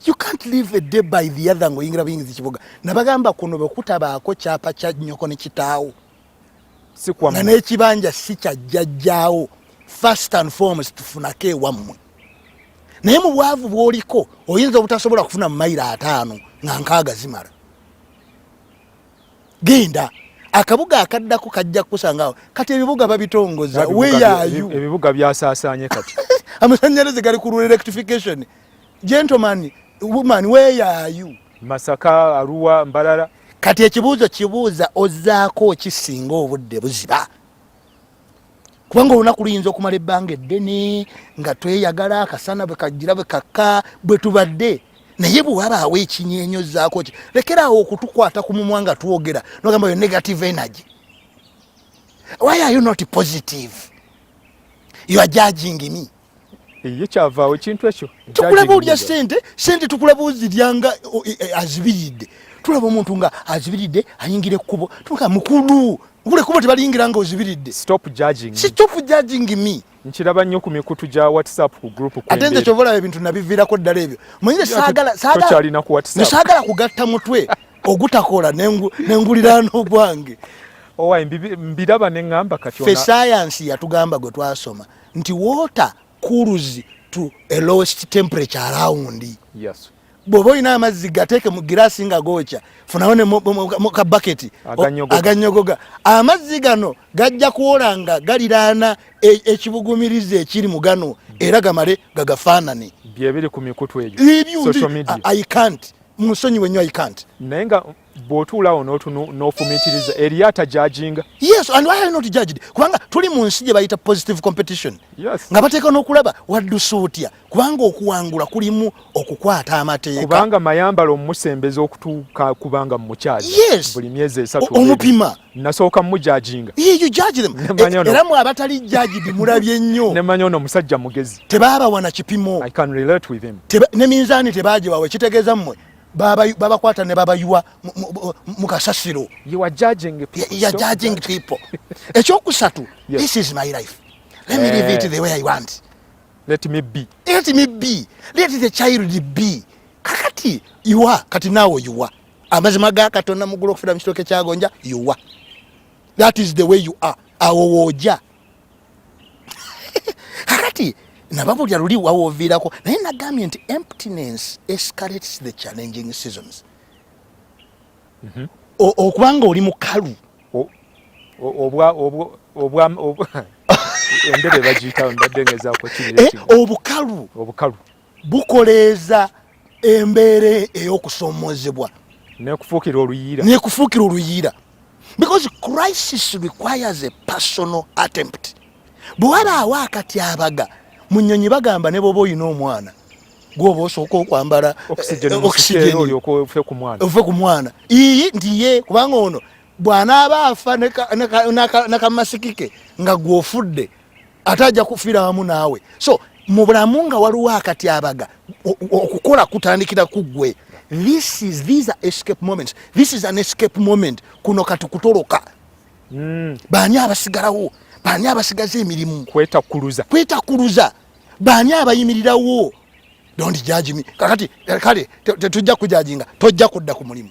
you can't live a day by the other ngo yingira buyingizi kibuga nabagamba kuno bwekutabaako kyapa kya nyoko ne kitaawo nga n'ekibanja si kyajjajjaawo first and foremost tufunako ewammwe naye mu bwavu bwoliko oyinza obutasobola kufuna mu mayiro ataano nga nkaaga zimala genda akabuga akaddako kajja kukusangawo kati ebibuga babitongoza weyayu ebibuga byasasanye kati amasanyalaze gali ku electrification gentleman woman weyayu masaka aruwa mbalala kati ekibuuzo kibuuza ozaako okisinga obudde buziba kubanga olunaku luyinza okumala ebbanga eddene nga tweyagala akasana bwekagira bwekakka bwe tubadde naye bwewabaawo ekinyenyo zaako ki lekeraawo okutukwata ku mumwa nga twogera nogamba yo negative energy why are you not positive you are judging me ye kyavaawo ekintu ekyo tukulaba olya sente sente tukulaba ozirya nga e, e, azibiridde tulaba omuntu nga azibiridde ayingira ekkubo tuga mukulu gule kubo tebaliyingira nga ozibiridde stop judging stop judging me nkiraba nnyo ku mikutu gya whatsapp ku group ate nze kyobola ebintu nabiviirako ddala ebyo manyire saagala saagala ku whatsapp saagala kugatta mutwe ogutakola nenguliraano gwange owa mbiraba ne ŋŋamba kati fe sayansi yatugamba gwe twasoma nti water cools to a lowest temperature around yes bwoba olina amazzi gateeke mu giraasi nga gookya funawo ne muka baketi aganyogoga amazzi gano gajja kuwola nga galiraana e, ekibugumiriza ekiri mu gano era gamale gagafaanane byebiri ku mikutu egyo social media i can't musonyi wenyo i can't naye nga bw'otuulawo n'otunu n'ofumiitiriza eriyo atajajinga yes and why are you not judged kubanga tuli mu nsi gye bayita positive competition yes. nga bateeka n'okulaba waddusa otya kubanga okuwangula kulimu okukwata amateeka kubanga mayambala omusembeza okutuuka kubanga mumukyali yes. buli myezi esatu omupima nasooka mujajinga e, era mwe abatali jajidi mulabye nnyo nemanya ono omusajja mugezi tebabawana kipimo ne minzaani tebagiwawe kitegeeza mmwe babakwata ne babayiwa mu kasasiro ekyokusatu this is my life let me live it eh. the way i want let me be let me be let the child be kakati iwa kati nawo iwa amazima ga katonda mugulu okufira mu kitooke kyagonja iwa that is the way you are awo woja kakati nababulira luli wawoviirako naye nagambye nti emptiness escalates the challenging seasons mhm. okubanga oli mukalu obukalu bukoleeza embeera ey'okusoomoozebwa nekufuukira oluyiira nekufuukira oluyiira because crisis requires a personal attempt bwe wabaawo akatyabaga mu nnyonyi bagamba ne bwoba olina omwana gwoba osooka okwambala oxygenove ku mwana iyi nti ye kubanga ono bw'anaaba afa n'akamasiki ke nga gw'ofudde ate ajja kufira wamu naawe so mu bulamu nga waliwo akatyabaga okukola kutandikira ku ggwe this is these are escape moments this is an escape moment kuno kati kutoloka mm. baani abasigalawo baani abasigaza emirimu kwetakuluza kwetakuluza baani abayimirirawo don't judge me kakati kale tetujja kujajinga tojja kudda ku mulimu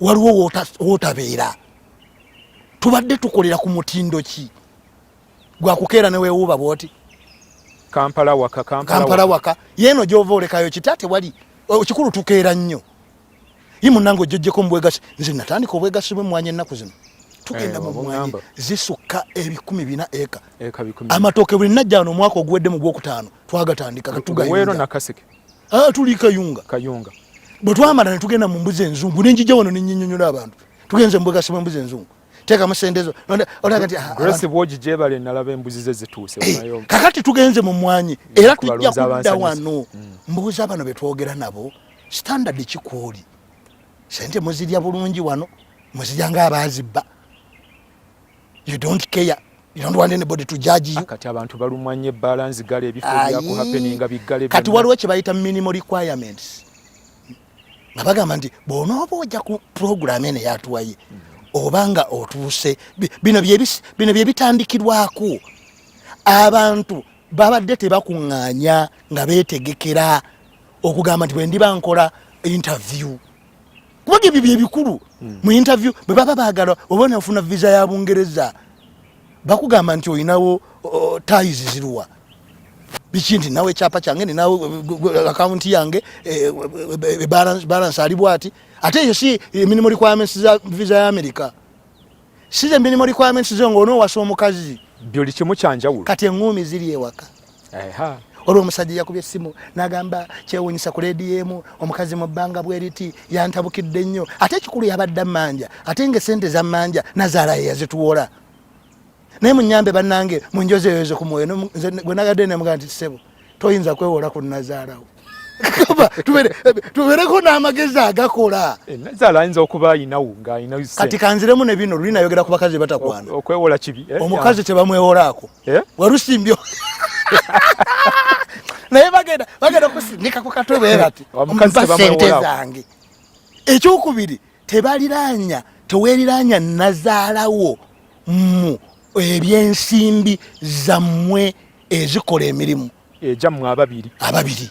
waliwo wotabeera tubadde tukolera ku mutindo ki gwakukeera newewuuba bwoti kampala waka kampala waka yeeno gyova olekayo kita tewali ekikulu tukeera nnyo ye munange ojjojjeko mubwegasi nze natandika obwegasi bwe mwanya ennaku zino tugenda eh, mu mwanyi zisukka ebikumi bina eka amatooke buli najja wano omwaka oguwedde mu gwokutaano twagatandika katugawero nakaseke ah, tuli kayunga kayunga bwe twamala ne tugenda mu mbuzi enzungu ne njija wano ne nyinyonyola abantu tugenze mu bwegasima embuzi enzungu teeka musendezo olaga nti ah, grace bwogi gyebale nalaba embuzi ze zituuse eh, kakati tugenze mu mwanyi era tujja kudda wano mm. mbuuza bano be twogera nabo standard kikwoli sente muzirya bulungi wano muzirya ng'abaazibba you don't care you don't want anybody to judge you ah, kati abantu balumwa nnyo ebbaala nzigala ebifo byakuhapeninga biggale kati waliwo kye bayita minimal requirements nga bagamba nti bw'onooba ojja ku puroguramu eno eyatuwaye oba nga otuuse bino bye bitandikirwako abantu babadde tebakuŋŋaanya nga beetegekera okugamba nti bwe ndiba nkola interview kubanga ebyo byebikulu hmm. mu interview bwe baba baagala oba nafuna visa ya bungereza bakugamba nti olinawo tais ziruwa biki nti nawe ekyapa kyange ninawe akawunti yange eh, eh, eh, balance ali bwati ate eyo si emirimu requirements za visa ya amerika si the minimal requirements zo nga onoowasa omukazi byoli kimu kyanjawulo kati eŋŋuumi ziri ewaka olwo omusajja yakubye essimu n'agamba kyewunyisa ku leediyo emu omukazi mu bbanga bweriti yantabukidde nnyo ate ekikulu yabadde ammanja ate nga esente zammanja nazaala ye yazituwola naye munyambe bannange munjozeyoze ku mwoyo gwe nagadde nemugaa nti ssebo toyinza kwewola ku nazaalawo tubereko n'amagezi agakola eh, nazaala ayinza okuba ayinawo ng'alina kati kanziremu ne bino luli nayogera ku bakazi batakwana okwewola kibi eh, omukazi tebamwewolaako eh? walusimbyo naye bagenda bagenda kusindika ku katwe bwerati ompa sente zange ekyokubiri tebaliranya teweriranya nazaalawo mu ebyensimbi zammwe ezikola emirimu egyammwe ababiri ababiri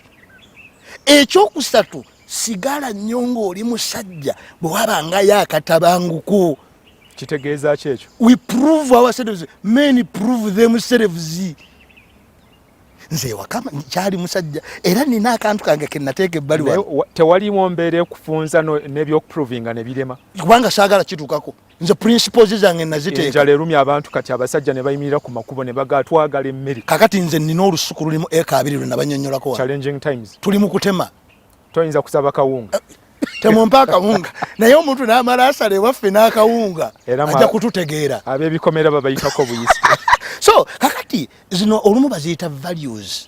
ekyokusatu sigala nnyo ng'oli musajja bwe wabangayo akatabanguko kitegeeza ki ekyo we prove ourselves men prove themselves nze ewaka kyali musajja era nina akantu kange kenateeka ebbali tewaliwo mbeera ekufunza n'ebyokuprovinga ne birema kubanga saagala kituukako nze principles zange naziteeka enjala erumya abantu kati abasajja ne bayimirira ku makubo ne bagaa twagala emmere kakati nze nina olusuku lulimu eka abiri lwe nabanyonnyolako challenging times tuli mu kutema toyinza kusaba kawunga eh, temumpa akawunga naye omuntu namala asala ewaffe n'akawunga ajja kututegeera ab'ebikomera babayitako buyisi so kakati zino olumu baziyita values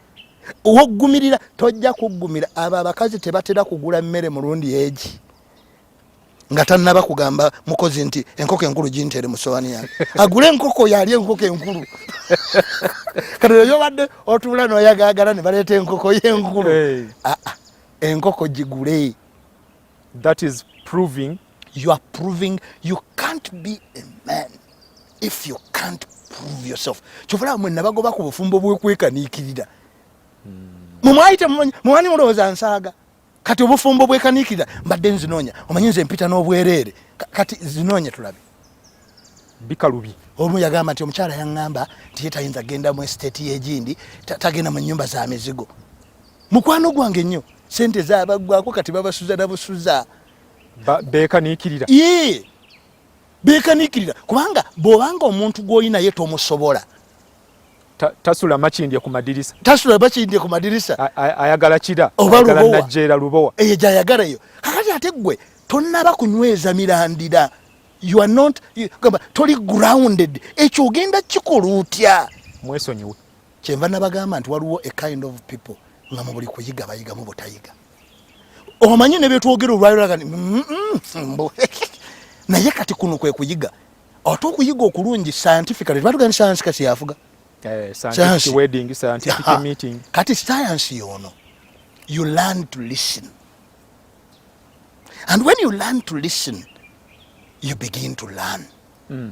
woggumirira tojja kuggumira abo abakazi tebatera kugula mmere mulundi egi nga tannaba kugamba mukozi nti enkoko enkulu gintere mu sowani yange agule enkoko yali enkoko enkulu kati eyo obadde otuula noyagaagala ne baleeta enkoko yenkulu enkoko gigule That is proving you are proving you can't be a man if you can't prove yourself kyovola mwe nabagoba ku bufumbo bwekwekanikirira mumwayite mumwani mulowooza nsaaga kati obufumbo bwekanikirira mbadde nzinoonya omanyi nze mpita n'obwereere kati zinoonya tulabe bikalubi omu yagamba nti omukyala yaŋŋamba nti ye tayinza genda mu esiteeti yegindi tagenda mu nnyumba za mizigo mukwano gwange nnyo sente zabaggwako kati babasuza nabusuza bekanikirira ee bekanikirira kubanga bwobanga omuntu gwoyi naye tomusobola tasula makindye ku madirisa tasula makindye ku madirisa ayagala kira obalubowanajjeera lubowa eyo gyayagala eyo kakati ate ggwe tonnaba kunyweza mirandira you are not gamba toli grounded ekyo ogenda kikola otya mwesonyiwe kyenva nabagamba nti waliwo a kind of people nga mubuli kuyiga bayiga mubutayiga omanyi nebyetwogera olwayolagani naye kati kuno kwekuyiga ate okuyiga okulungi scientifically tebatugani sayansi kasi yafuga eh, kati sayansi yono you learn to listen and when you learn to listen you begin to learn mm.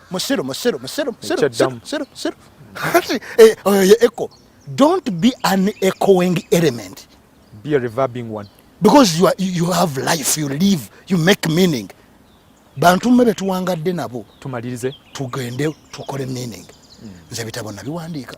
musiru musiru musiru musiru musiru kati eh, oyo ye echo don't be an echoing element be a reverbing one because you, are, you have life you live you make meaning bantu mwe betuwangadde nabo tumalirize tugende tukole meaning hmm. nze bitabo nabiwandiika